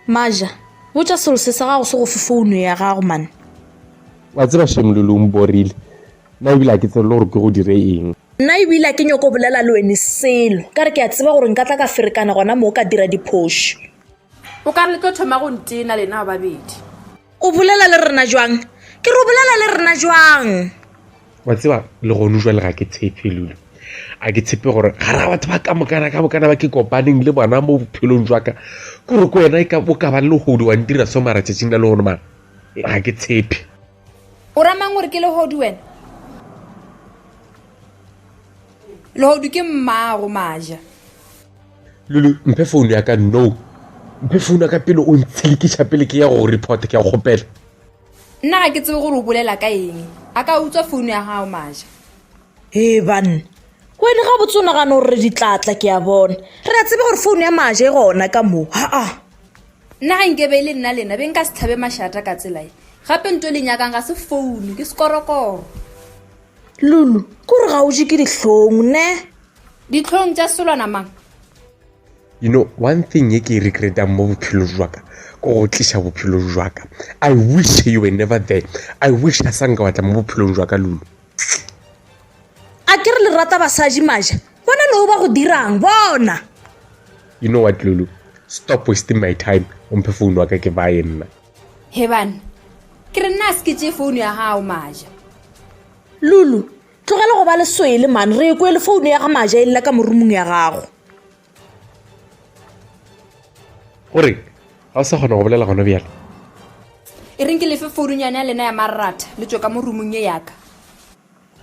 maja botša selose sa gago se go fe founo ya gago mane wa tseba shemololong borile nna ebile a ke tsebele gore ke go dire eng nna ebile a ke nyoko bolela le wene selo ka re ke a tseba gore nka tla ka ferekana gona moo ka dira diphošo o ka re le tlo thoma go ntena lena babedi O bolela le rena jwang? Ke re o bolela le rena jwang? wa tseba le gone jwa le ga ke tshepe lule a ke tshepe gore ga ra batho ba ka mokana ka bokana ba ke kopaneng le bona mo bophelong jwa ka kore ko wena e ka bo ka ba le hodi wa ntira so mara tšatšing la le gone mara ga ke tshepe o ramang gore ke le hodi wena le hodi ke mmago maja lulu mphe phone ya ka no mphe phone ya ka pele o ntshilikiša pele ke ya go report ke ya kgopela nna ga ke tsebe gore o bolela ka eng a ka utswa phone ya gago maja ee banna wene ga botsonagano gore re ditlatla ke ya bona re a tsebe gore phone ya maja e gona ka moo aa nna ga nkebe e le nna lena be nka se tlhabe mašata ka tselae gape nto le nyakang ga se founu ke sekorokoro lulu kore ga o je ke dihlong ne ditlhong tša selwana mang you know one thing ye ke e regretang mo bophelo jwaka ko go tliša bophelo jwaka i wish you were never there i wish a sanka watla mo bophelong jwaka lulo a ke re le rata basadi maja bona leo ba go dirang bona you know what lulu stop wasting my time o mphe founu wa ka ke baye nna hebane ke re nna a se ke tee founu ya gago maja lulu Tlogela go ba leswele man re kwe le founu ya ga maja e lela ka morumong ya gago. gore ga o sa kgona go bolela gona bjale e reng ke lefe foununyane ya lena ya marratha le tswe ka mo rumong ye yaka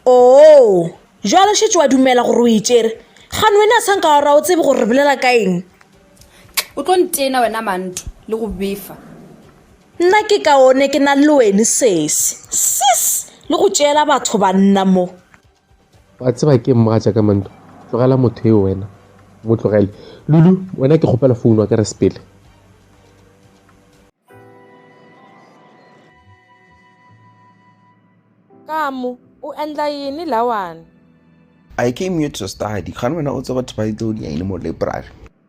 Oo, jwale šetše wa dumela gore o e tšere. Gane wena a sanka wa ra o tsebe gore re bolela ka eng. o tlo ntena wena manto le go befa Nna ke kaone ke na le wene sesi. Sis! Le go tšeela batho banna mo. Wa tseba ke mmaja ka manto. Tlogela motho eo wena. Mo tlogele. Lulu, wena ke kgopela founu wa ka re sepele. Kamu, u endla yini lawani? I came here to study. Kgani wena u tseba title ya yini mo library?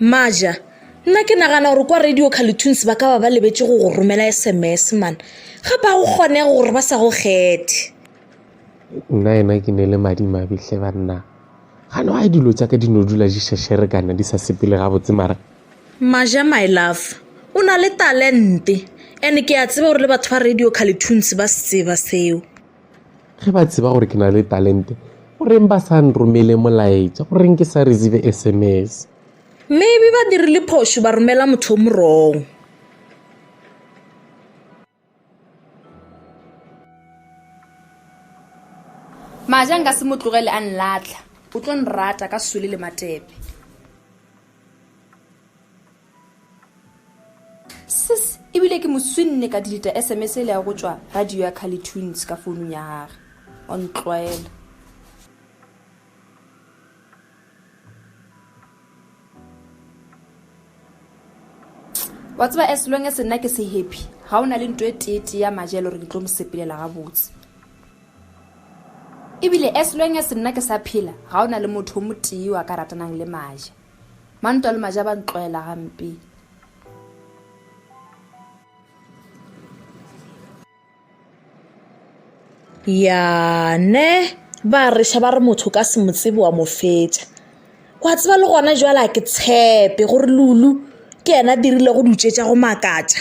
maja nna ke nagana gore kwa radio carletoons ba ka ba ba lebetse go go romela sms man ga ba go kgone gore ba sa go kgethe nna ena ke ne le madimabihle banna gane wa dilo tsa ka di no dula di shashere kana di sa sepele gabotse mara maja my love o na le talente and ke a tseba gore le batho ba radio carletoons ba se tseba seo ge ba tseba gore ke na le talente goreng ba sa nromele molaetša goreng ke sa receive sms maybe ba dirile phošo ba romela motho o morong maja nka se mo tlogele a nlatlha o tlo nrata ka sole le matepe Sis, ebile ke mo swinne ka deleta SMS e le ya go tšwa radio ya Kali Tunes ka founung ya gage. O ntlwaela. wa tseba as long as nna ke se happy ga o na le nto e teetee ya maja e le gore ke tlo mo sepelela gabotse ebile as long as nna ke sa phela ga o na le motho o motee wa ka ratanang le maja Mantwa le maja ba ntloela gampe. Ya ne ba reša ba re motho ka se mo tsebe wa mo fetša. Wa tseba le gona jwale a ke tshepe gore Lulu ke yena dirile go dutšetša go makatša.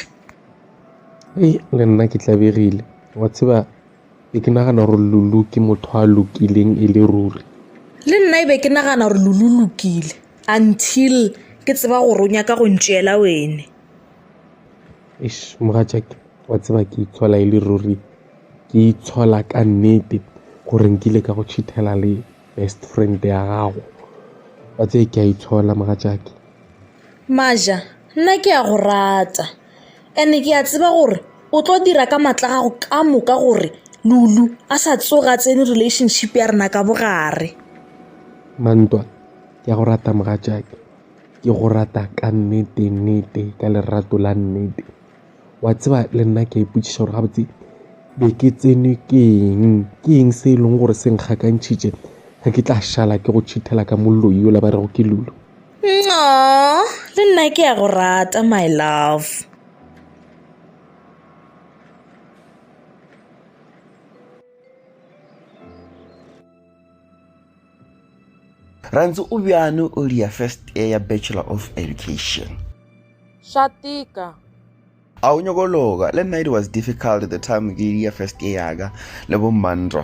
Ee, le nna ke tlabegile wa tseba Be ke nagana gore Lulu ke motho a lokileng e le ruri. Le nna e be ke nagana gore Lulu lokile until ke tseba gore o nyaka go ntšeela wene. Eish mogatšake wa tseba ke itshola e le ruri ke itshola ka nnete gore nkile ka go cheatela le best friend ya gago wa tseye ke a itshola mogatšake. Maja nna ke a go rata. And-e ke a tseba gore o tlo dira ka maatla a gago ka moka gore Lulu a sa tsoga a tsene relationship ya rena ka bogare. Mantwa, ke a go rata mogatšake. Ke go rata ka nnete nnete ka lerato la nnete. Wa tseba le nna ke a ipotšiša gore gabotse be ke tsenwe ke eng, ke eng se e leng gore se nkgakantšhitše ge ke tla šala ke go tšhithela ka moloi yola ba rego ke Lulu. Aww, le nna ke a go rata my love. Rantsi o bjano o lia first year ya Bachelor of Education. Swa tika. A o nyoko loka, le nna it was difficult the time ke lia first year yaka le bo Mandro.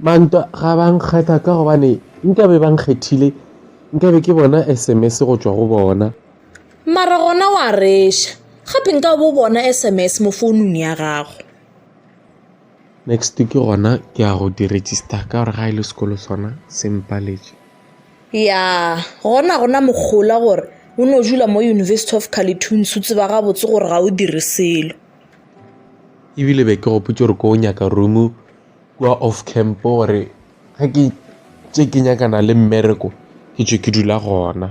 Mantwa ga ba nkgetha ka gobane nkabe ba nkgethile nkabe ke bona sms go tšwa go bona. Mara gona wa reša gape nkabe o bona sms mo founung ya gago. Next ke gona ke ya go di register ka gore ga e le sekolo sona se mpaletše. Ya gona gona mogola gore o no dula mo University of Carleton se o tseba gabotse gore ga o dire selo. ebile be ke gopotse gore ko nyaka room kua off camp gore ge ke tše ke nyakana le mmereko ke tšwe ke dula gona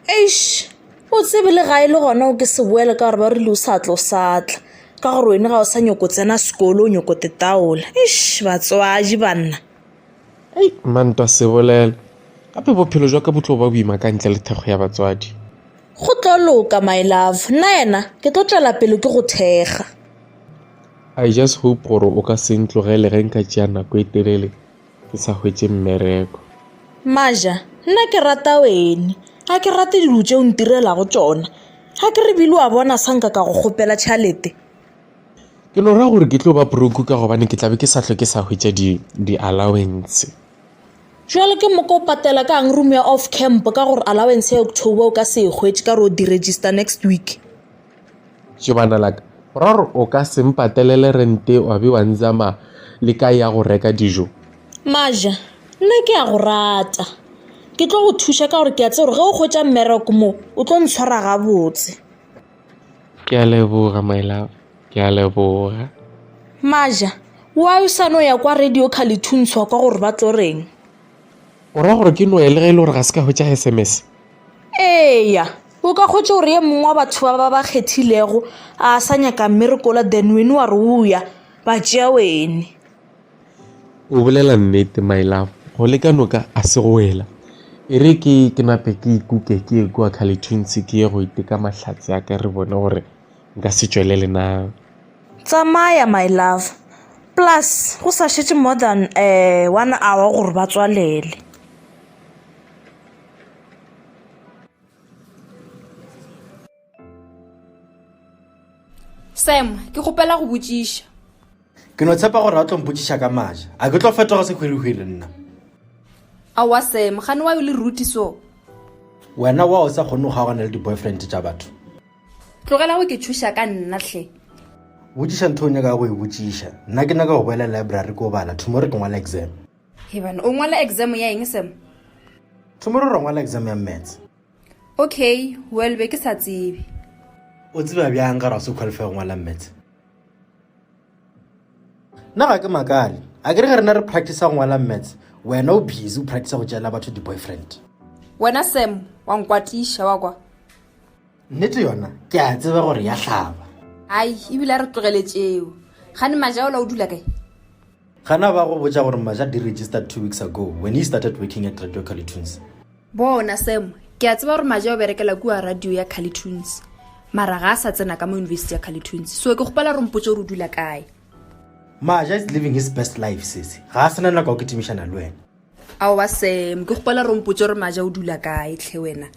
eish o tsebe le ga e le gona o ke se boele ka gore ba rile o sa tlo satla ka gore wena ga o sa nyoko tsena sekolo o nyoko tetaola eish batswadi banna ei mantwa se bolela gape bophelo jwa ka bo tlo ba boima ka ntle le thekgo ya batswadi Go tlo loka my love, nna yena ke tlo tšwela pele ke go thekga. I just hope gore o ka se ntlogele ge nka tšea nako e telele ke sa hwetše mmereko. Maja, nna ke rata wene, ga ke rate dilo tše o ntirelago tšona. Ga ke re bile wa bona sa nka ka go kgopela tšhalete. Ke no ra gore ke tlo ba broke ka gobane ke tla be ke sa hlwe ke sa hwetša di-allowance. Jwale ke moka o patela ka ang room ya off camp ka gore allowance ya October o ka se e hwetše ka gore o di-register next week. Jebana la ka, go ra gore o ka se mpatelele rente wa be wa nzama le ka ya go reka dijo? Maja, nna ke a go rata. Ke tlo go thuša ka gore ke a tse gore ge o hwetša mmereko mo, o tlo ntshwara gabotse. Ke a leboga my love. Ke a leboga. Maja, why o sa no ya kwa radio Khalithuntswa kwa gore ba tlo reng? O ra gore ke no ya le ge e le gore ga se ka hwetša SMS? Eya, o ka hwetša gore ye mongwe wa batho ba ba ba kgethilego a sa nyaka mmerekola then wene wa re o ya ba tšea wene. O bolela nnete my love go le ka noka a se go wela e re ke ke nape ke ikuke ke ye kwa kgalethuntsi ke ye go iteka mahlatse a ka re bone gore nka se tšwelele na tsamaya my love plus go sa šetše more than um one hour gore ba tswalele sam ke kgopela go botšiša ke no tshepa gore a tlo mpotšiša ka maja a ke tlo fetoga sehwirihwiri nna aowa sam gane wa yo le ruti so wena wa o sa kgone go kgaogana le di-boyfriend tša batho tlogela go ke tšhoša ka nna tlhe botšiša ntho o nyaka go e botšiša nna ke nyaka go boela library ko bala tomorrow ke ngwala exam hebane o ngwala exam ya eng sam tomorrow re ngwala exam ya mats okay well be ke sa tsebe o tseba bjang ga raso qualify go ngwala mets nna ga ke makale a ke re ge rena re practice go ngwala mets wena o busy o practice go tšeela batho di-boyfriend wena sam wa nkwatiša wa kwa nnete yona ke a tseba gore ya hlaba ai ebile a re tlogeletšeo gane majaola o dula kae Gana ba go botša gore Maja di registered two weeks ago when he started working at Radio Calitunes. Bona Sam, ke a tseba gore Maja o berekela kua radio ya Calitunes. Mara ga a sa tsena ka mo university ya Calitunes. So ke gopela gore mpotse gore o dula kae. Maja is living his best life sese. Ga a sena nako ya go kitimišana le wena. Aowa Sam, ke gopela gore mpotse gore Maja o dula kae tlhe wena.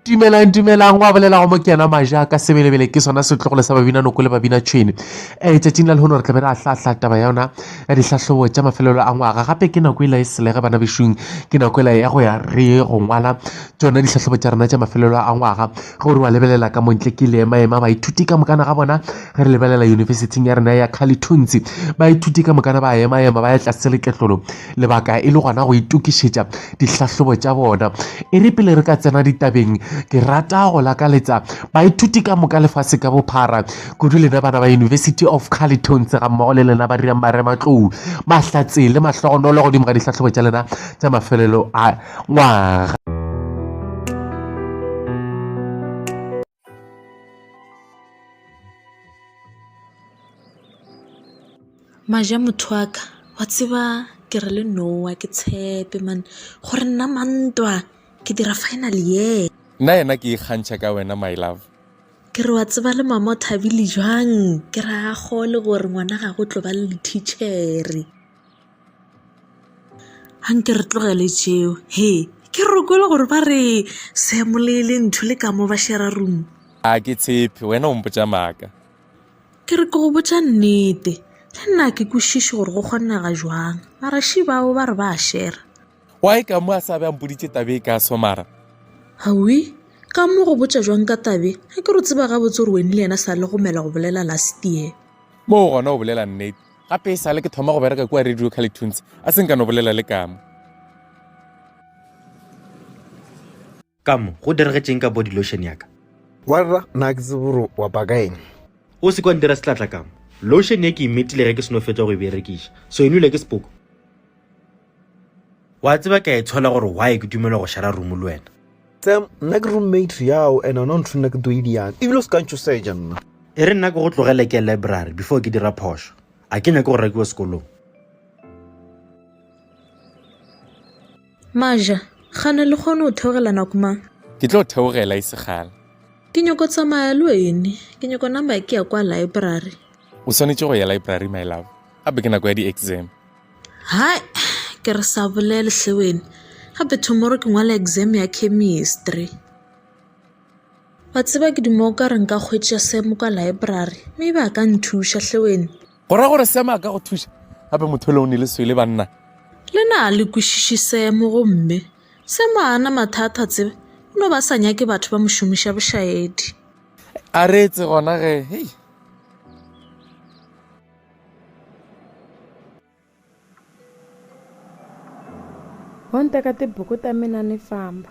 dumelang dumelang wa bolela go mokena maja ka sebelebele ke sona setlogolo sa babina noko le babina tšhwene um tšatšing la lehono re tla be re a hlahla taba ya yona ya dihlahlobo tša mafelelo a ngwaga gape ke nako e la e selege bana bešung ke nako e la ya go ya re go ngwala tsona dihlahlobo tša rena tša mafelelo a ngwaga Ge o re wa lebelela ka montle ke ile ema ema baithuti ka mokana ga bona ge re lebelela yunibesithing ya rena ya Kgalithunzi baithuti ka mokana ba ema ema ba ya tlase leketlolo lebaka e le gona go itokišetša dihlahlobo tša bona e re pele re ka tsena ditabeng ke rata go lakaletsa baithuti ka moka lefase ka bophara kudu lena bana ba University of Kgalithunzi ga mmogo le lena ba dirang marematlou mahlatse le mahlogonolo godimo ga dihlahlobo tša lena tša mafelelo a ngwaga. Maja motho wa ka wa tseba ke re le nowa ke tshepe mane gore nna mantwa ke dira final ye nna yena ke ikgantšha ka wena my love ke re wa tseba le mama o thabile jwang ke re a gole gore ngwana ga go tlo ba le lectichere a nke re tlogele tšeo he ke re o kwele gore ba re semo le le ntho le ka mo ba shera room a ke tshepe wena o mpotsa maaka ke re ke go botsa nnete le nna ke kwešiše gore go kgonega jwang maraši bao ba re ba a shera wa e ka mo a sa be a mpoditse tabe e ka somara gawi ka mo go botsa jwang ka tabe a ke re o tseba gabotse gore weni le yena sa le gomela go bolela last year mo gona o bolela nnete gape e sale ke thoma go bereka kua radio calitunes a se nka no bolela le kamo kamo go diregetšeng ka body lotion yaka warra na ke tseboro wa bakaeng o se kwa ntira setlatla kamo lotion ye ke imetile ge ke seno fetsa go e berekiša so e nwile ke sepoko Wa tseba ke a itshola gore why ke dumela go shara room le wena. Sam, nna ke roommate yao and ona ntho nna ke tlo idiang. Ebile o se ka ntšoseja nna. E re nna ke go tlogele ke library before ke dira phošo. A ke nyake go rakiwa sekolong. Maja, gana le kgone go theogela nako mang? Ke tlo theogela e segala. Ke nyoko tsamaya le wene. Ke nyoko number ke ya kwa library. O swanetše go ya library my love. Gape ke nako ya di-exam. Hai ke re sa bolele hle wena gape tomorrow ke ngwala exam ya chemistry. Wa tseba ke duma o ka re nka kgwetša Sam kwa library maybe a ka nthuša hle wena. Go ra gore Sam a ka go thuša gape motho le o ne le swele banna. Le na le kwešiše Sam gomme Sam a ana mathata tseba o no ba sa nyake batho ba mo šomiša bošaedi. A reetse gona ge hei. Ho nteka tibuku ta mina ni famba.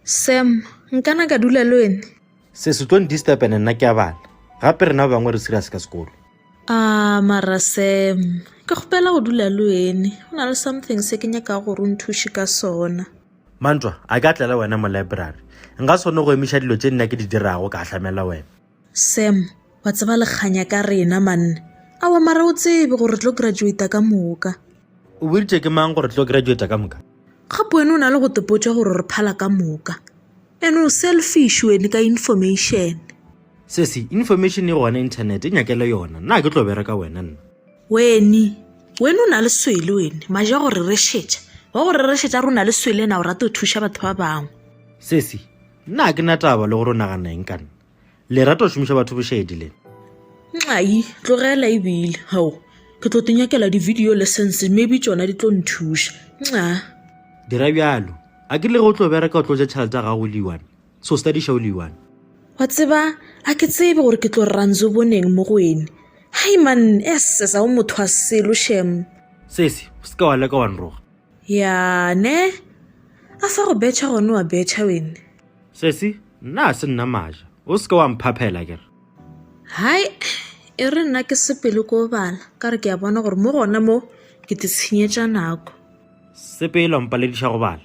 Sam, nkana ka dula le wena? Se se tlo ndisturb ene nna ke a bala. Gape rena ba bangwe re serious ka sekolo. Ah, mara Sam, ke kgopela go dula le wena. Go na le something se ke nyakago gore o nthuše ka sona. Mantwa, a ke atlele wena mo library? Nka sone go emiša dilo tše nna ke di dirago ka ahlamela wena. Sam, wa tseba lekganya ka rena manna. Awa mara o tsebe gore re tlo graduata ka moka. O boditše ke mang gore re tlo graduata ka moka? Gape wena o na le go tepotša gore re phala ka moka. Ene o selfish wene ka information. Sesi, information e gona internet e nyakele yona. Nna a ke tlo bereka wena nna. Wene, wene o na le swele wene, maje a go rerešetša, wa go rerešetša re o na le swele na o rata go thuša batho ba bangwe. Sesi, Nna ga ke na taba le gore o nagana eng ka nna. Le rata go šomiša batho bošedi le. Nxayi, Tlogela e bile, hao, ke tlo te nyakela di-video lessons maybe tšona di tlo nthuša. Nxa. Dira bjalo, a ke le ge o tlo bereka o tlo ja tšhelete ya gago o le one. So study show le one. Wa tseba, a ke tsebe gore ke tlo ranzo boneng mo go ene. Hai man, esses a o motho wa selo shem. Sesi, o seka wa leka wa nroga. Ya, ne? A fa go betšha gone wa betšha wene. Sesi, nna a se nna maja. O seka wa mphaphela ke re. Hai, e re nna ke sepele ko bala, ka re ke a bona gore mo gona mo ke te tshenyetša nako. Sepele wa mpalediša go bala.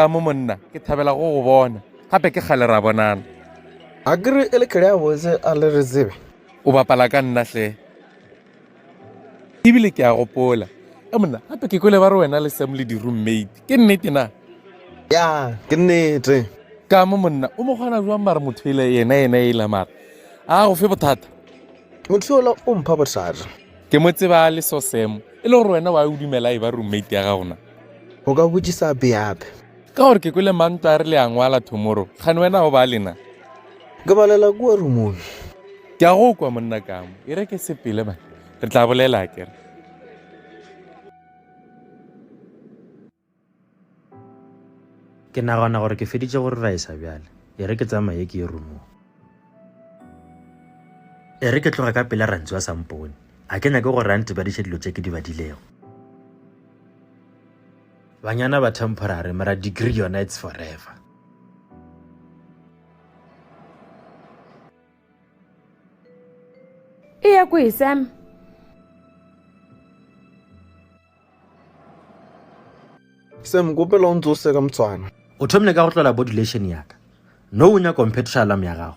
ka mo monna ke thabela go go bona gape ke kgale ra bonana a kere e le kere ya botse a le re tsebe o bapala ka nna hle ebile ke a gopola e monna gape ke kwele ba re wena le sam le di-roommate ke nnete na ya ke nnete ka mo monna o mo kgona jwang mare motho ele yena yena ela mara a go fe bothata motho ola o mpha bothata ke mo tseba le so sam e le gore wena wa o dumela e ba roommate ya gagona o ka botsisa beape Ka gore ke kwele mantwa a re le a ngwala tomorrow. Kgane wena go ba lena. Ke balela kua rumong. Ke a go kwa monna kamo. E re ke sepele ba. Re tla bolela a kere. Ke nagana gore ke feditše go reraisa bjale. E re ke tsamaye ke ye rumong. E re ke tloga ka pela Rantsu a sa mpone. A ke nyake gore a ntebadiše dilo tše ke di badilego. Banyana ba temporary mara degree yona it's forever. E ya kwi Sam? Sam kopela o ntse o seka motswana. O thomile ka go tlola bodulation ya ka. No o nyaka o mphethoša alarm ya gago.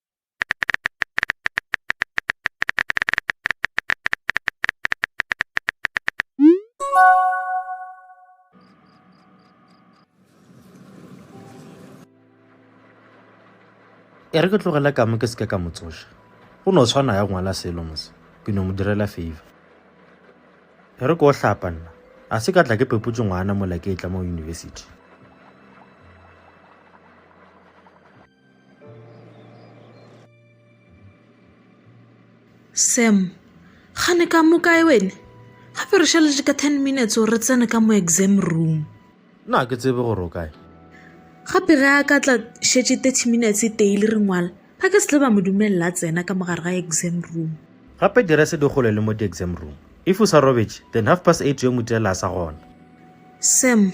E re ke tlogele kamo ke seke ka mo tsoša go no tshwana ya ngwala selo mose ke no mo direla favor e re ke o hlapa nna a se ka tla ke pepotse ngwana mola ke e tla mo university Sam, gane ka mo kae wene? Gape re šaletše ka ten minutes gore re tsene ka mo exam room. Nna ke tsebe gore o kae. Gape ge a ka tla šetše thirty minutes daily re ngwala, ba ka se tle ba mo dumelela a tsena ka mogare ga exam room. Gape direse di gole le mo di-exam room. If o sa robetše, then half past eight yo Mutela a sa gona. Sam,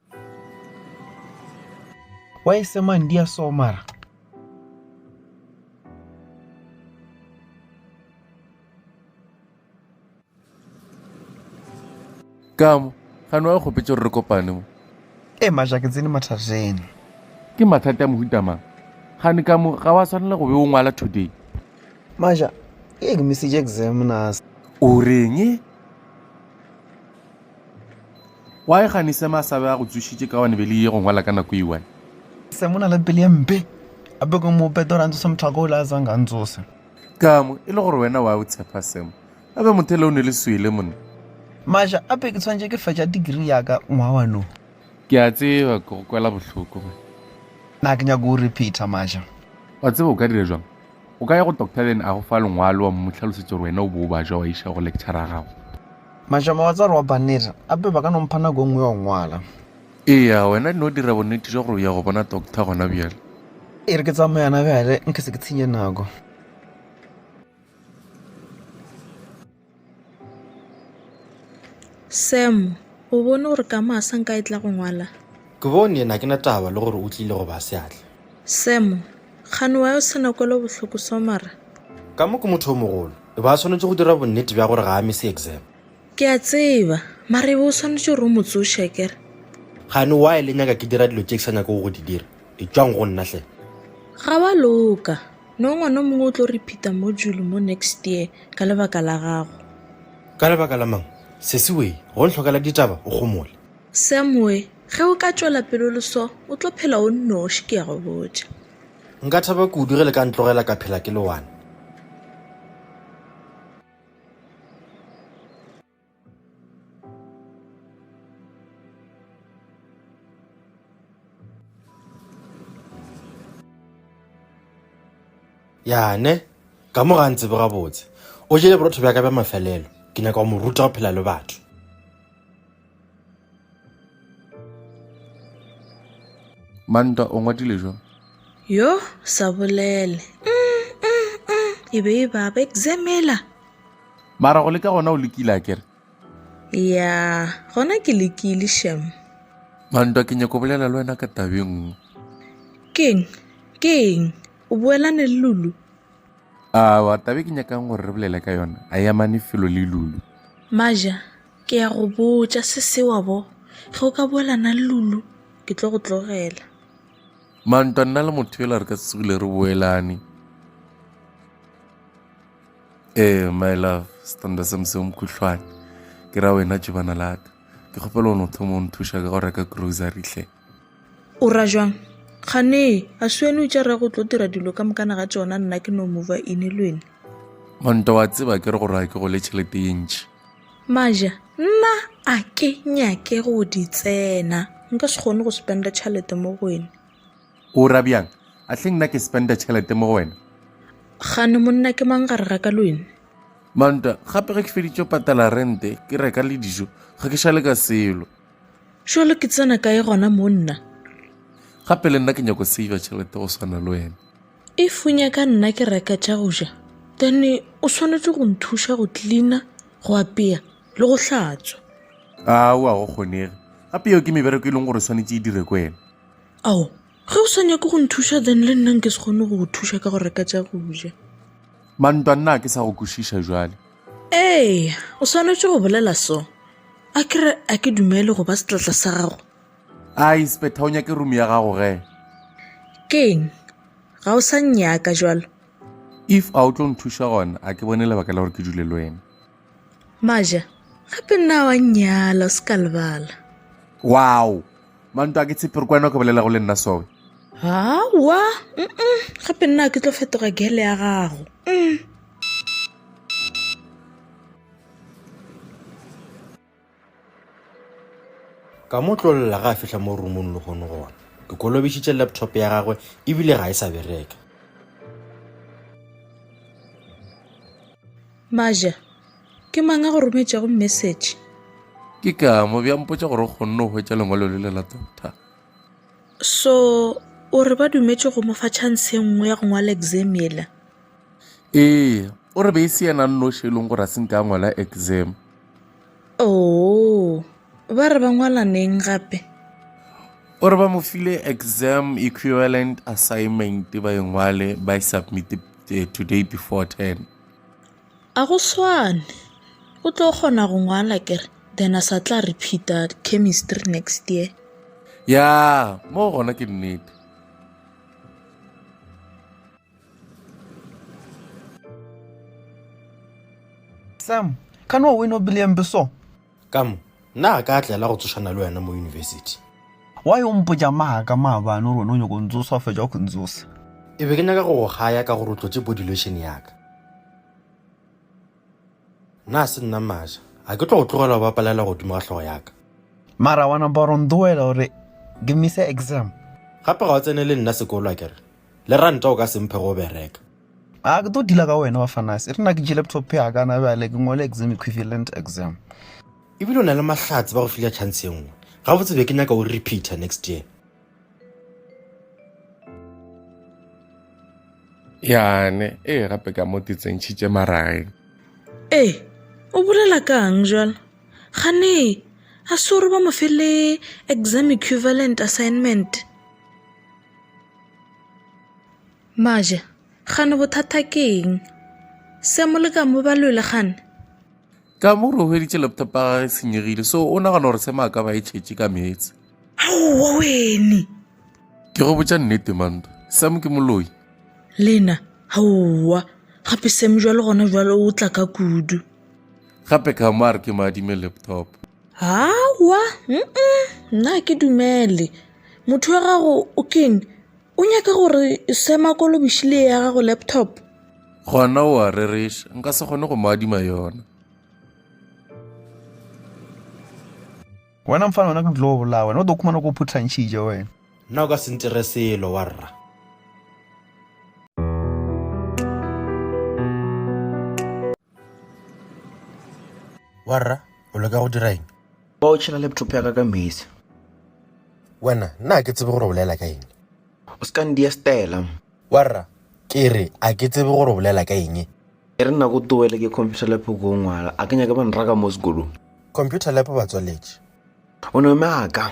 wa e semang di a somara kamo gane wa kgopetse gore re kopane mo e maja ke tsene mathateng ke mathata a mohutamang gane kamo ga wa tshwanela go be o ngwala today maja e ke message exam nas o reng e Wa e gani se masabe a go tsušitše ka one be le ye go ngwala ka nako e one? Se mona le pele mpe. A be go mo petora ntse se motho go la tsang ga ntsose. Ka mo e le gore wena wa o tshepa semo. A be mothele o ne le swele monna. Maja a be ke tshwantše ke fetša degree ya ka ngwa wa no. Ke a tseba ke go kwela bohloko. Na ke nyaka o repeater Maja. Wa tseba o ka dira jwang? O ka ya go Doctor then a go fa lengwalo wa mmu hlalosetša gore wena o bo o ba jwa wa iša go lecturer a gago. Mašama wa tswa re wa banner ape ba ka no mpha nako engwe ya go ngwala. Eya, wena di no dira bonnete jwa gore o ya go bona Doctor gona bjale. E re ke tsamaye yana bjale nke se ke tshenye nako. Sam, O bone gore ka masa nka e tla go ngwala? Ke bone, yena ke na taba le gore o tlile go ba seatla. Sam, Kgane wa yo sena kwelo bohloko so mara? Ka mo ke motho yo mogolo, e ba a swanetše go dira bonnete bja gore ga a mise exam. Ke a tseba, mara e be o swanetše gore o mo tsoše akere? Kgane why le nyaka ke dira dilo tše ke sa nyakego go di dira? Etšwang go nna hle. Ga wa loka. No ngwana o mongwe o tlo repeater module mo next year ka lebaka la gago. Ka lebaka la mang? Sesi wee, go nhlokela ditaba o gomole. Sam we, ge o ka tšwela pele o le so, o tlo phela o nnoši ke ya go botša. Nka thaba kudu ge le ka ntlogela ka phela ke le one. yane ka mo ga ntsebe gabotse o jele borotho bja ka bja mafelelo ke nyaka go mo ruta go phela le batho mantwa o ngwadile jo yo sa bolele mm, mm, mm. e be e baba examela mara go leka gona o lekile a kere ya gona ke lekile shem mantwa ke nyako bolela le wena ka tabeng keng keng o boelane le lulu a wa tabe ke nyakang gore re bolele ka yona a yamane felo le lulu maja Ke ya go botša se se wa bo, ge o ka boela na le Lulu, ke tlo go tlogela. Mantwa nna le motho yola re ka tsogile re boelane. Eh, my love, setanda se moseo mokhuhlwane. Ke ra wena jebana la ka. Ke kgopela o no thoma o nthuša ka go reka grocery hle. O ra jwang? Gane, a se wene o tša rra go tlo dira dilo ka mokana ga tšona nna ke no mova ine le wene. Mantwa wa tseba ke re go raya ke go le tšhelete ye ntši. Maja, Nna a ke nyake go di tsena. Nka se kgone go spenda tšhelete mo go wena. O ra bjang? A hle nna ke spenda tšhelete mo go wena? Gane monna ke mang gare ga ka le wena? Manta, Gape ge ke feditše go patala rente, ke reka le dijo, ga ke šale ka selo. Jalo ke tsena kae gona monna? Gape le nna ke nyako save tšhelete go swana le wena. If o nyaka nna ke reka tša go ja then o swanetše go nthuša go cleaner go apea le go hlatswa Aowa go kgonege gape yeo ke mebereko e leng gore swanetše e dire ko wena ao ge o sa nyake go nthuša then le nna nke se kgone go go thuša ka go reka tša go ja mantwa nna a ke sa go kwešiša jwale ee o swanetše go bolela so a kere a ke dumele go ba setlatla sa gago a inspector o nyake room ya gago ge keng ga o sa nnyaka jalo if a o tlo nthuša gona a ke bone lebaka la gore ke dule le wena maja gape nna wa nnyala o se ka lebala wow manto a ke tshepe re ko wena o ka bolela go le nna soe hawa mm gape nna ke tlo fetoga gele ya gago mm. ka mo tlolela ga a fihla mo rumong le gone gona ke kolobešitše laptop ya gagwe ebile ga e sa bereka maja ke mang a go rometšego message ke ka mo bja mpotsa gore o kgonne go hwetša lengwalo le le la doctor so o re ba dumetše go mo fa chance e nngwe ya go ngwala exam ela ee o re be e se yena nnoši e leng gore a se nka ngwala exam Oo, ba re ba ngwala neng gape? o re ba mo file exam equivalent assignment ba e ngwale ba e submit eh, today before 10 a go swane o tlo kgona go ngwala kere then a sa tla repeata chemistry next year ya mo gona ke nnete sam ka no weno bileng beso ka mo nna a ka a tlela go tsošana le wena mo yunibesithi wa yo mpotša maaka maabane gore wena o nyako ntsosa o fetša go ntsosa e be ke nyaka go go gaya ka gore o tlotše body lotion yaka Na se nna Masha? A ke tlo go tlogela go bapalela godimo ga hlogo ya ka? Mara wa napa wa re o ndoela gore ke mise exam. Gape ga o tsene le nna sekolo akere? Le ranta o ka se mphe go bereka. A ke tlo dealer ka wena Bafanasi. E re na ke tšee laptop ya ka na bjale ke ngwale exam equivalent exam. Ebile o na le mahlatse ba go file chance e nngwe. Gabotse be ke nyaka o repeater next year. yane e gape ka mo ke tsentšhitše marageng ee o bolela kang jalo gane a sore ba mo fele exam equivalent assignment maja gane bothata keng se mo le ka mo balwele gane Ka mo re hweditše laptop ya gage senyegile so o nagana gore sema a ka ba e tšhetše ka meetse. Aowa wene. Ke go botša nnete manta. Sam ke moloi. Lena, aowa. Gape Sam jwale gona jwale o tla ka kudu. Gape ka mo a re ke mo adime laptop. Aowa, mm nna ke dumele. Motho wa gago o keng? O nyaka gore Sam a kolobiše le ya gago laptop? gona o a rereša nka se kgone go mo adima yona wena mfana wena ke tlo bolaa wena o tlo khumana ko phutlhantšhitše wena nna o ka se ntere selo wa rra wa rra o leka go dira eng ba o tšhela laptop ya ka ka mesi wena nna ke tsebe gore o bolela ka eng o se ka ndia stela Warra, ke re, a ke tsebe gore o bolela ka eng? E re nna ko towele ke computer lab ko o ngwala, a ke nyake ba nraka mo sekolong. Computer lab ba tswaletše. O no eme a ka.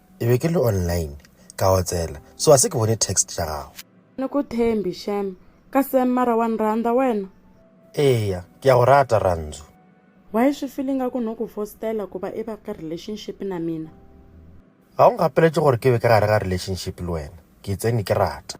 Ke be ke le online ka otsela so a se ke bone text tša gago. Ni ku thembi shem. Ka Sam mara wa ni rhandza wena? Eya, ke ya go rata Rhandzu. Why swi feel ingaku no ku fostela ku va i va ka relationship na mina? Ga o ngapeletše gore ke be ka gare ga relationship le wena, ke itseng ni ke rata.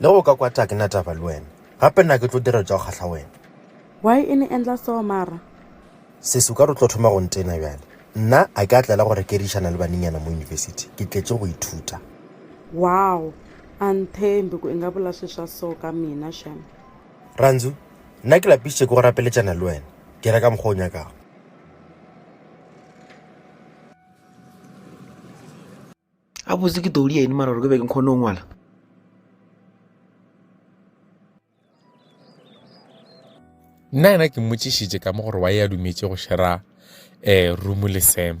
Le ge o ka kwata ke na taba le wena. Gape nna ke tlo dira tša go kgahla wena. Why e ne endla so mara? Sesi o ka re o tlo thoma go ntena bjale. Nna a ke a tlela go rekerišana le banenyana mo university. Ke tletše go ithuta. Wow! A nthembe ku i nga bula swi swa so ka mina shem. Randzu, Nna ke lapišitše ke go rapeletšana le wena. Dira ka mokgwa o nyakago. a botse ke todi ene mara gore ke be ke kgone go ngwala nna yena ke mmotšišitše ka mo gore wa e a dumetše go shera um room le sam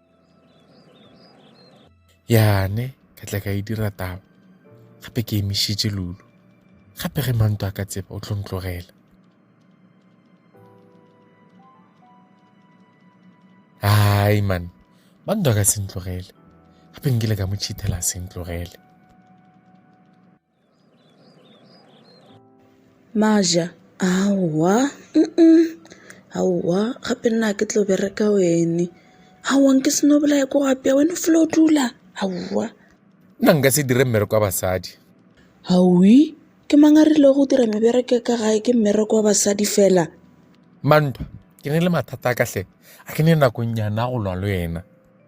yane ka tla ka e dira taba gape ke emišitše lulu gape ge manto a ka tseba o tlo ntlogela hai man manto a ka se ntlogele gape nkile ka mo chithela se ntlogele Maja, Aowa, uh-uh, aowa gape nna ga ke tlo bereka wene. Aowa nke se no bolaya ko go apeya, wena o fela o dula, aowa. Nna nka se dire mmereko wa basadi. Hauwi, ke mang a rilego go dira mebereko ya ka gae, ke mmereko wa basadi fela. Mantwa, Ke na le mathata a ka hle, a ke ne nakong nyana ya go lwa le wena.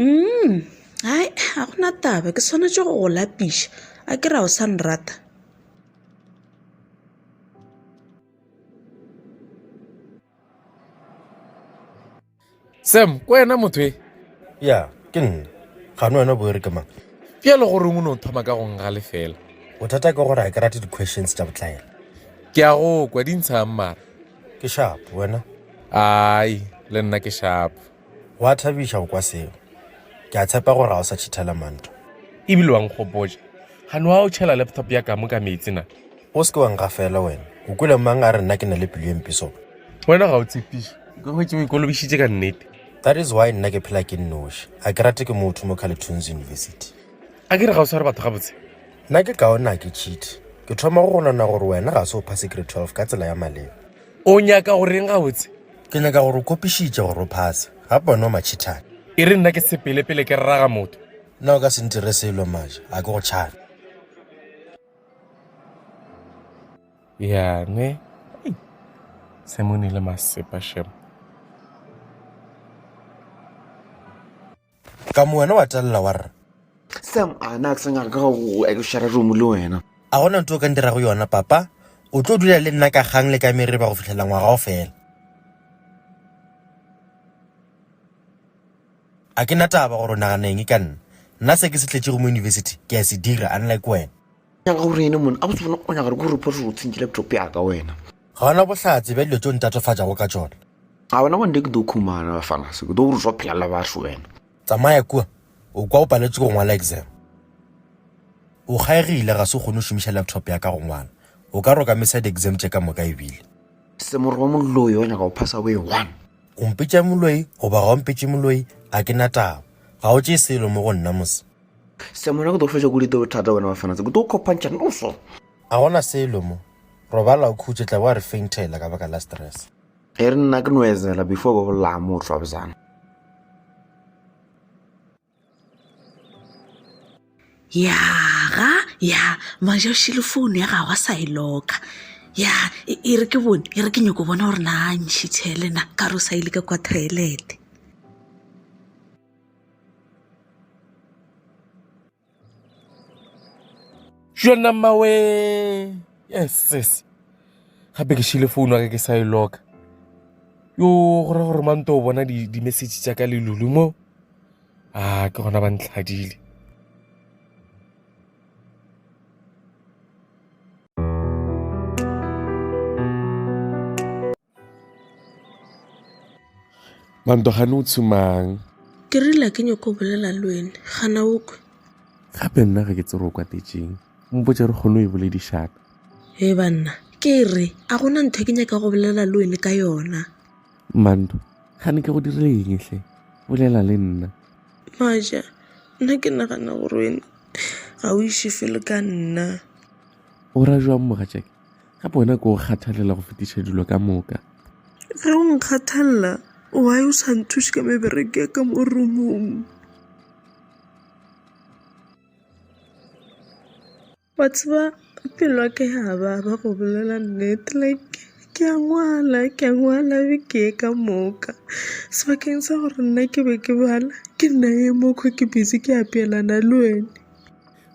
Umm hai ga gona taba ke swanetše go go lapiša a ke re a o sa nrata. Sam ke wena motho e? Ya ke nna gane wena bo e re ke mang Bjale go reng o ne o thoma ka go nga lefela? bothata ke gore ga ke rate di-questions tša botlaela Ke a go kwa di ntshang mara. ke shapo wena Ai le nna ke shapo. Gwa thabiša go kwa seo. Ke a tshepa gore ga o sa tšhithela manto. E bile wa nkgopotša. Ga no a o tšhela laptop ya kamo ka meetse na? O se ke wa ngafela wena. O kwele mang a re nna ke na le pelo e mpe sona? Wena ga o tshepiše. Ke hwetše o ikolobišitše ka nnete. That is why nna ke phela ke nnoši. A ke rate ke motho mo Carleton's University. A ke re ga o sware batho gabotse? Nna ke kaone a ke tšhithe. Ke thoma go gonana gore wena ga se o phase grade 12 ka tsela ya maleba. O nyaka go reng gabotse? Ke nyaka gore o kopišitše gore o phase. Ga pone o matšhithane. E re nna ke sepele pele ke rraga motho. Nna o ka se ntire selo maja, a ke go tšhane. Yane. Semone le masepa shem. Ka mo wena wa telela wa re. Sam, a na ke sa nyaka ka go ekešara romo le wena. A gona nto o ka ndirago yona, papa? O tlo dula le nna ka kgang le ka mereba go fihlela ngwaga o fela. A ke na taba gore o nagana eng ka nna. Nna se ke se tletšego mo university ke a se dira, unlike wena. nyaka gore ene mone a botse bona o nyaka gore ke report gore o tsentše laptop yaka wena ga ona bohlatse bja dilo tšeo ntatofatšago ka tšona ga wena bonde ke do khumana bafana se ke do gore swa phela la batho wena tsamaya kua o kwa o paletswe go ngwala exam o kgaegile ga se o kgone go šomiša laptop ya ka go ngwala o ka roka mesa di-exam tše ka moka ebile semoro wa moloi wa nyaka go phasa boe one o mpetša moloi goba ga o mpetše moloi a ke na taba ga o tšee selo mo go nna mose semona go tlo fetša go dite bothata wena wa fanatse go tlo kopantšha noso a gona selo mo robala o khutše tla bo a re faintela ka baka la stress e re nna ke noezela before ba bolaya mo o tlwa bjana ya ga ya maja o šile founu ya gago a sa e loka ya e e re ke bone e re ke nyoko bona gore na ntšhitšhelena ka re o sa ile ka kwa toilete yona mawe yes gape ke šile founu ake ke sa e loka yo go ra gore mante o bona di-message tša ka lelulu mo a ah, ke gona ba ntlhadile Manto gane o tshumang? Ke rile ke nyoko bolela le wene, gana o kwe. Gape nna ga ke tsere o kwatetseng. Mpotse re kgone e boledišana. He banna, ke re a gona ntho ke nyaka go bolela le wene ka yona. Manto, gane ke go dirile eng hle? Bolela le nna. Maja, nna ke nagana gore wena ga o iše felo ka nna. O ra jwang mogatšake? Gape wena ko o kgathalela go fetiša dilo ka moka. Ge o nkgathalela, wa yo sa nthuše ka mebereke ya ka mo rumong. Wa tseba pelo ya ka ya baba go bolela nnete like ke a ngwala ke a ngwala be ke ye ka moka sebakeng sa gore nna ke be ke bala ke nna ye mokgwa ke busy ke apeelana le wene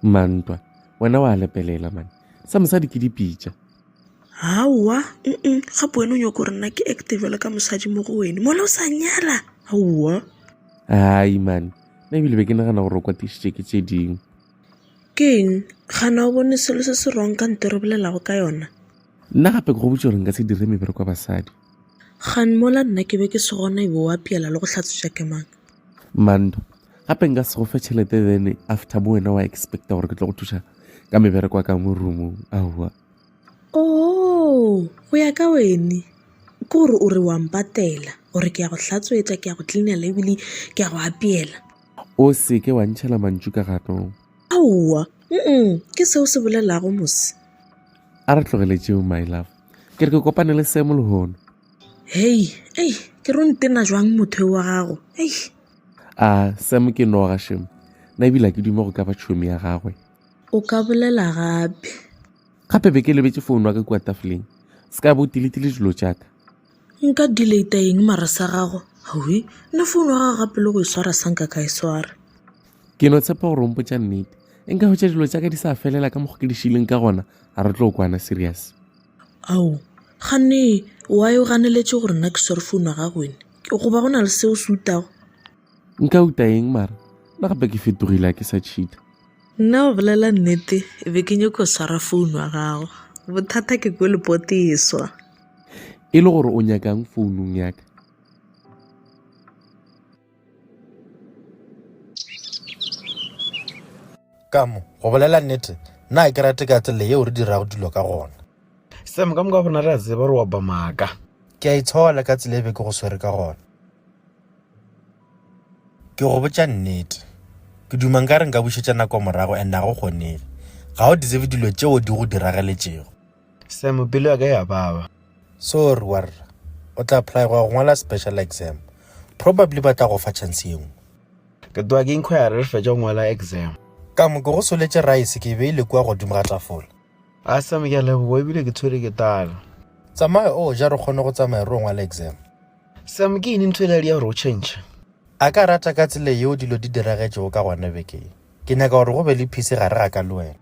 mantwa wena wa lepelela mane sa mosadi ke dipitša aowa um gape wena o nyoko gore nna ke acte jalo ka mosadi mo go wene mola o sa nyala aowa ai mane nna ebile be ke nagana gore o kwatišitše ke tše dingwe ke eng gana o bone selo se se rong ka nto re bolelago ka yona nna gape ke go botse gore nka se dire mebereko ya basadi gan mola nna ke be ke se gona ebe wa piela le go hlatswetša ke mang manto gape nka se go fe tšhelete then after mo wena wa expecta gore ke tlo go thuša ka mebereko ka mo roomong aowa o oh, go ya ka wene ke gore o re wa mpatela gore ke ya go hlatswetsa ke ya go cleanela ebile ke ya go apeela o se ke wa ntšhela mantšu ka ganong aowa mm ke seo se bolelago mose a re tlogeletseo my love ke re ke kopane le semo lehono Hei, ei, ke re o ntena jwang motho yo wa gago? Ei. A Sam ke noga shem. Na ebile ke dume go ka ba tšhomi ya gagwe. O ka bolela gape. Gape be ke lebetse founu wa ka kua tafoleng. Se ka bo tiletile dilo tša ka. Nka delata eng mara sa gago? Hawi, nna founu wa gago gape le go e swara sa nka ka e swara. Ke no tshepa gore o mpotša nnete. Nka hwetša dilo tša ka di sa felela ka mokgwa ke di šileng ka gona, a re tlo kwana serious. Ao, ganne why o ganeletše gore nna ke swere founu ya gago wene? Goba go na le seo se utago? Nka uta eng mara? Nna gape ke fetogile a ke sa cheater. Nna go bolela nnete be ke nyoko swara founu ya gago. Bothata ke kwe lepote e swa. E le gore o nyakang founung ya ka? ka mo go bolela nnete nna ke rate ka tsela yeo re dirago dilo ka gona sam ka moka rona re a tseba re wa ba maaka ke a itshola ka tsela e be ke go swere ka gona ke go botša nnete ke dumang ka re nka bušetša nako morago and a go kgonege ga o di tsebe dilo tšeo di go dirageletšego Sam, pelo ya ka ya baba. Sorry warra. O tla apply go ngwala special exam. Probably ba tla go fa chance ye nngwe. Ke tloga ke inquire re fetša go ngwala exam. Ka mo ke go soletše rice ke e beile kua godimo ga tafola. A Sam ke a leboga ebile ke tshwere ke tala. Tsamaya o ja re kgone go tsamaya re o ngwala exam. Sam, ke eng ntho e le ya gore o change? A ka rata ka tsela yeo dilo di diragetšego ka gona beke ye. Ke nyaka gore go be le peace gare ga ka le wena.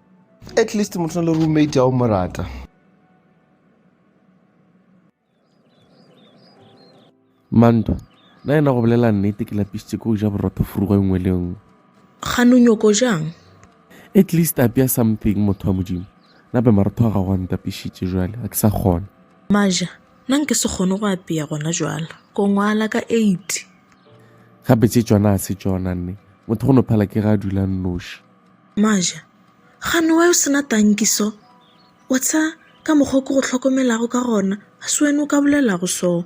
at least motho na le roommate ya o mo rata manto na ena go bolela nnete ke lapisitse ko o ja borotho furugo e nngwe le nngwe gano nyoko jang at least apea something motho wa modimo nape marotho a gago a ntapišitše jale a ke sa kgona maja nna nke se kgone go apea gona jala ko ngwala ka eight gape tse tsona a se tsona nne motho go no phala ke ga a dula nnoši Maja, Gane wa yo se na tanki so? Wa tsa ka mokgwa ke go hlokomelago ka gona, ga se wena o ka bolelago so.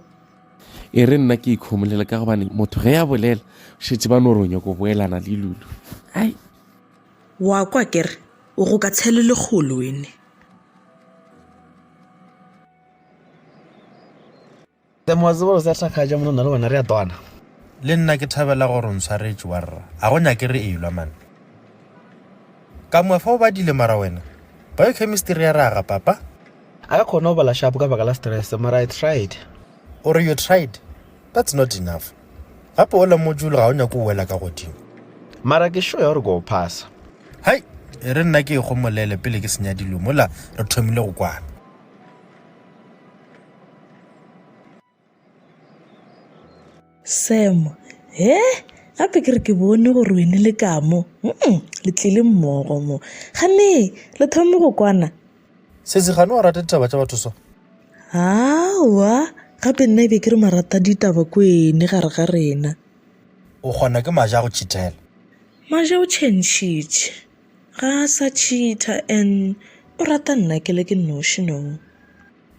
E re nna ke ikhomolela ka gobane motho ge ya bolela šetse ba no ronya go boelana le lulu ai wa kwa kere o go ka tshele legolo ene Hle mo a tseba gore sa hlakgatša mona nna le wena re a twana. Le nna ke thabela gore o ntshwaretše warra, ga go nyake re elwa man. Ka mwa fa o badile mara wena, biochemistry ya raga papa. A ka kgona go bala sharp ka baka la stress mara I tried. O re you tried? That's not enough. Gape ola module ga o nyake o wela ka godimo. Mara ke sure ya gore ke o phasa. Hai, e re nna ke e gomolele pele ke senya dilo mola re thomile go kwana. Sam, he gape ke re ke bone gore wene le ka mo mm, le tlile mmogo mo gane le thome go kwana sesi gane wa rata ditaba tša batho so awa gape nna ebe ke re marata ditaba ko ene gare ga rena o kgona ke maja go chithela maja o chentšhitše ga a sa cheater and o rata nna ke le ke noši no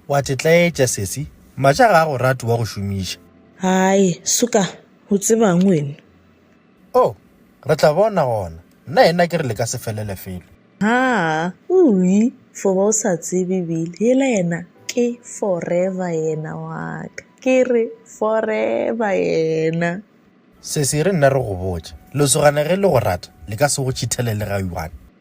O a tetlaetša, sesi. Matša ga a go rate wa go šomiša. Hai, suka, o tseba'ng wena? Oh, re tla bona gona. Nna yena ke re le ka se felele felo. Haa, ui, fo ba o sa tsebe bile, yela yena ke forever yena wa ka. Ke re forever yena. Sesi, re nna re go botša. Lesogane ge le go rata, le ka se go tšhithele le ga one.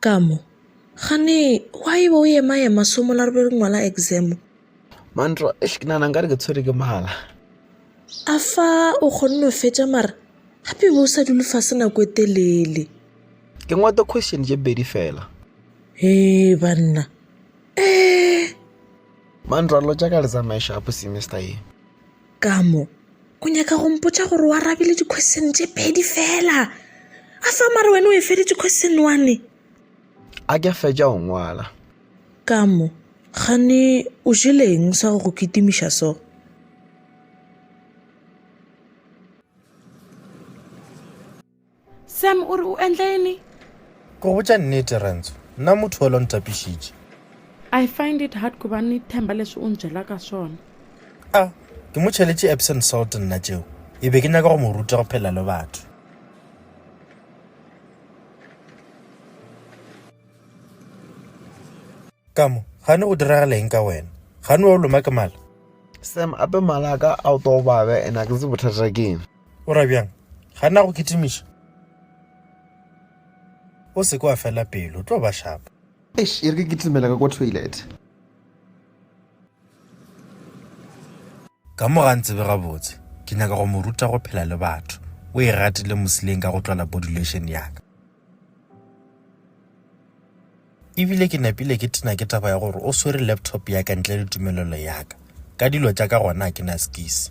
Ka mo, Kgane, gwa e be o ema-ema somo la re be re ngwala examo. Mantwa, Eish, ke nana nka re ke tshwere ke mala. A fa o kgonne o fetša mara gape be o sa dule fase nako e telele. Ke ngwata question tše pedi fela. Hee banna, ee. Mantwa, Lo tša ka le tsamaye shapo semester ye. ka mo o nyaka go mpotsa gore o arabile di-question tše pedi fela a fa mare wena o e feditse question one a ke fetša go ngwala ka mo gane o jeleng sa go go kitimiša so Sam o re o endleni? Go botša nnete, Renzo, nna motho yola o ntapišitše. I find it hard ku ba ni themba leswi u nbyela ka swona. A ke mo cheletše Epsom salt nna tšeo? E be ke nyaka go mo ruta go phela le batho. Ka mo, gane go diragala eng ka wena? Gane wa o loma ke mala? Sam, ape mala a ka a o tobabe ene a ke ntse bothata keng. O ra bjang? Ga na go kitimiša? O se ke wa fela pelo, tlo ba shapo. Eish, e re ke kitimela ka kwa toilet. Ka mo ga ntsebe gabotse, ke nyaka go mo ruta go phela le batho. O e ratile mosileng ka go tlola body lotion ya ka. Ebile ke napile ke tena ke taba ya gore o swere laptop ya ka ntle le tumelelo ya ka. Ka dilo tša ka gona a ke na skisi.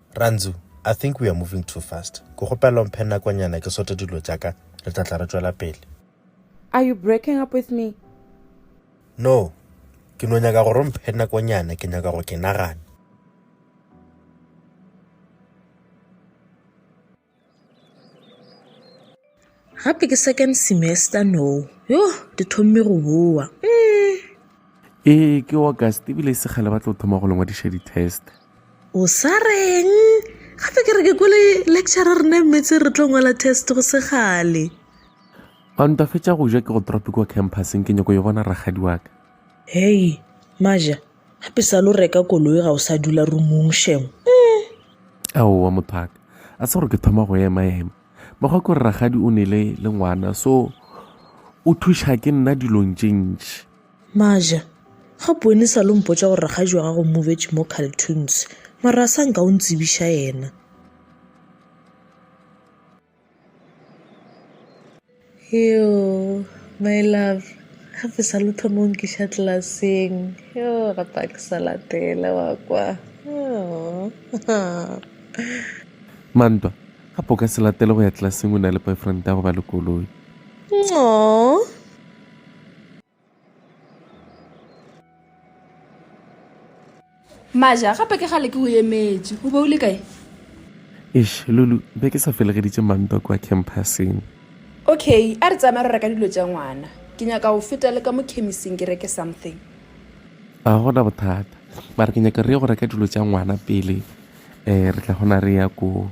Rantzu, I think we are moving too fast. Ke kgopela o mphe nakonyana ke sote dilo tša ka, re tla tla re tšwela pele. Are you breaking up with me? No, ke no nyaka gore o mphe nakonyana, ke nyaka go ke nagana. gape ke second semester no yo di thomme go boa mm. ee ke august ebile e segale ba tlo thoma go lengwadiša di-test o sa reng gape ke re ke kole lecture rena mmetse re tlo ngwala test go segale ba ntwafetša go ja ke go tropic wa campuseng ke nyako yo bona ragadi waka hei maja gape sa lo reka koloi ga o sa dula rumong shem aowa mothaka a se gore ke thoma go ema ema mekgwa ke gore ragadi o nele le ngwana so o thuša ke nna dilong tše ntši maja ga bone sa lo mpotsa gore ragadi wa gago movetše mo cartoons mara a sa nka o ntsebiša yena Yoo, my love, ga fe sa lotho mo nkiša tlelaseng. Yoo, ga pa ke sa latela wa kwa. Mantwa, ga po ka se latele go ya tlelaseng o na le boyfriend ya go ba le koloi. Aww. maja gape ke gale ke go emetše o be o le kae eš lulu be ke sa felegeditše mantwa kwa campuseng okay a re tsamaya re reka dilo tša ngwana ke nyaka go feta le ka mo chemising ke reke something a gona bothata mare ke nyaka re ye go reka dilo tša ngwana pele um re tla gona re ya koo